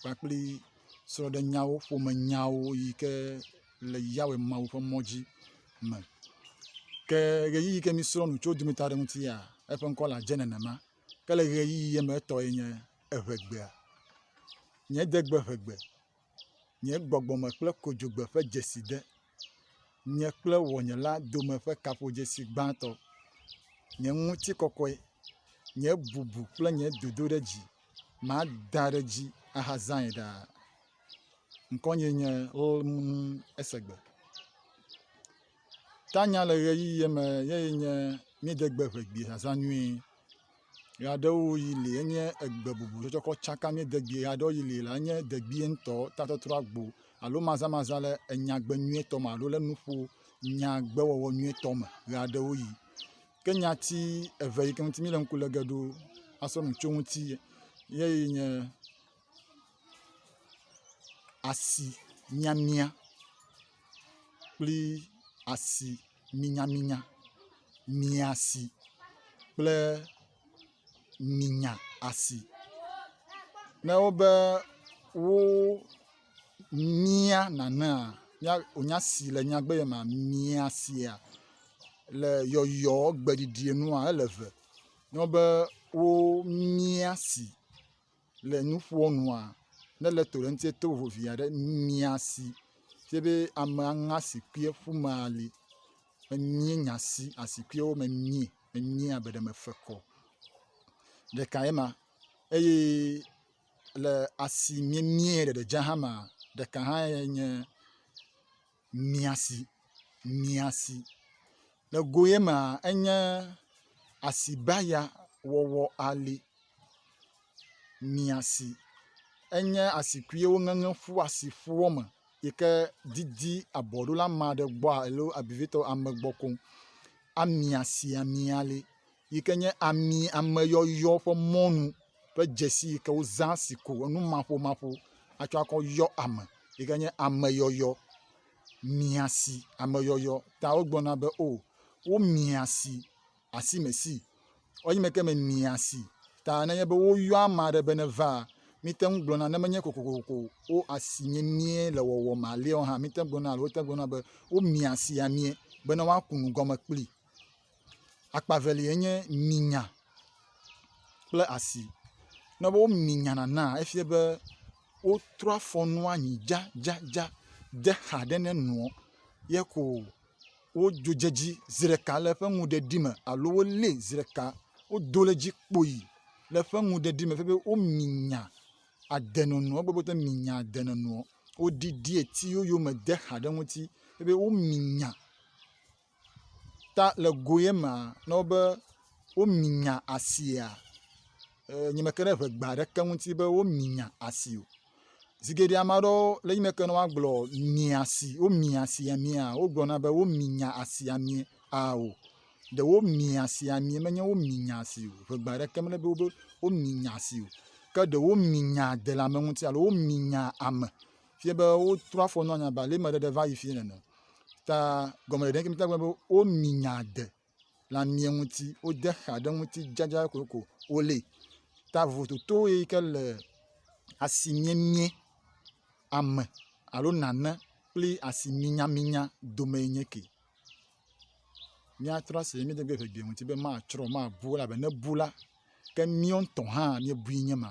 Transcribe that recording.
kpakple srɔ̃ɖenyawo, ƒomenyawo yi ke le Yawe Mawu ƒe mɔ dzi me. Ke ɣeyiɣi yi ke míesrɔ̃ nu tso wo dometɔ aɖe ŋutia, eƒe ŋkɔ le adze nenema. Ke le ɣeyiɣia me etɔe nye eŋegbea. Nye degbe ŋegbe, nye gbɔgbɔme kple kodzogbe ƒe dzeside, nye kple wɔnyela dome ƒe kaƒodzesi gbãtɔ, nye ŋutikɔkɔe, nye bubu kple nye dodoɖedzi. mada ɖe edzi ahazãe ɖaa. Ŋkɔnyee nye lmmm esegbe. Tanya le ʋeyiʋi me ye ye nye míede gbe ŋe gbi zazã nyuie. Ʋe aɖewo yi li enye egbe bubu ɖe tsɔkɔ tsaka míede gbi ʋe aɖewo yi li la enye degbi ŋutɔ tatɔtrɔ agbo alo mazamazã le enyagbe nyuietɔ me alo le nuƒo nyagbe wɔwɔ nyuietɔ me ʋe aɖewo yi. Ke nyati eve yi ke ŋuti míle ŋku le ge ɖo asɔ nu tso eŋuti ye nye asi miamia kple asi minyaminya, miasi kple. nyinya asi ne wobe wo mia nanea mía wonya si le nyagbe ye ma mia sia le yɔyɔ gbeɖiɖi nua ele eve. Ne wobe wo mia si. le nu ƒoa nua, ne le to ɖe eŋuti to vovo vi aɖe mia si fie be ame aŋe asikui ƒu me ali emie nya si asikuiwo me mie emie abe ɖe mefe kɔ o. Ɖeka ye ma eye le asi miemie ɖeɖe dze hã ma ɖeka hã ye nye. mia si, mia si. Le go ye mea, enye asibaya wɔwɔ ali, mia si. Enye asi kui ye woŋeŋe ƒu asi ƒuɔ me yi ke didi abɔɖola ma ɖe gbɔa alo vevitɔ ame gbɔ koŋ amia si amia li. yi ke nye ami ameyɔyɔ ƒe mɔnu ƒe dzesi yi ke wozã si ko enumaƒomaƒo atsɔ akɔ yɔ ame yi ke nye ameyɔyɔ. Miasi, ameyɔyɔ ta wogblɔna be o womia si asime si. Wanyime ke me mia si ta nenye be woyɔ ame aɖe be neva mite ŋu gblɔna ne menye kokoko wo asi nye mie le wɔwɔ me alea hã mite ŋu gblɔna alo wote ŋu gblɔna be womia si amie bene woaku nu gɔme kpli. Akpa evelia nye mi nya kple asi. Ne womi nya nana efia be wotrɔ afɔ nua nyi dzadzadza de xa ɖe ne nua ye ko wodzo dze edzi zi ɖeka le eƒe nuɖeɖi me alo wolée zi ɖeka wodo ɖe edzi kpoyi le eƒe nuɖeɖi me fia be womi nya ade nono egbe be wote mi nya ade nono o. Woɖiɖi eti yoyome de xa ɖe eŋuti fia be womi nya. ta le go ye mea na wo be womi nya asia. Nye meke ɖe ŋegba aɖeke ŋuti be womi nya asi o. Zi geɖe ame aɖewo le yi me ke ne woagblɔ mia si womi asi amia wogblɔna be womi nya asi ami ao. Ɖe womi asi ami menye womi nya asi o. Ŋegba aɖeke mele be womi nya asi o. Ke ɖe womi nya delamẽ ŋuti alo womi nya ame fie be wotrɔ afɔ nɔ nya balime ɖeɖe va yi fie nene. Ta gɔmeɖeɖe ŋkeke mita gblɔ be womi nya de le amie ŋuti, wode xa ɖe ŋuti dzadza kokoko wolé. Ta vovototo ye yi ke le asi miemie ame alo nane kple asi minyaminya dome ye nye ke. Míatrɔ asi le mía dometɔ ɖe ŋu be matsrɔ̃, mabu o elabe ne ebu la, ke míwo ŋutɔ hã míebui nye ma.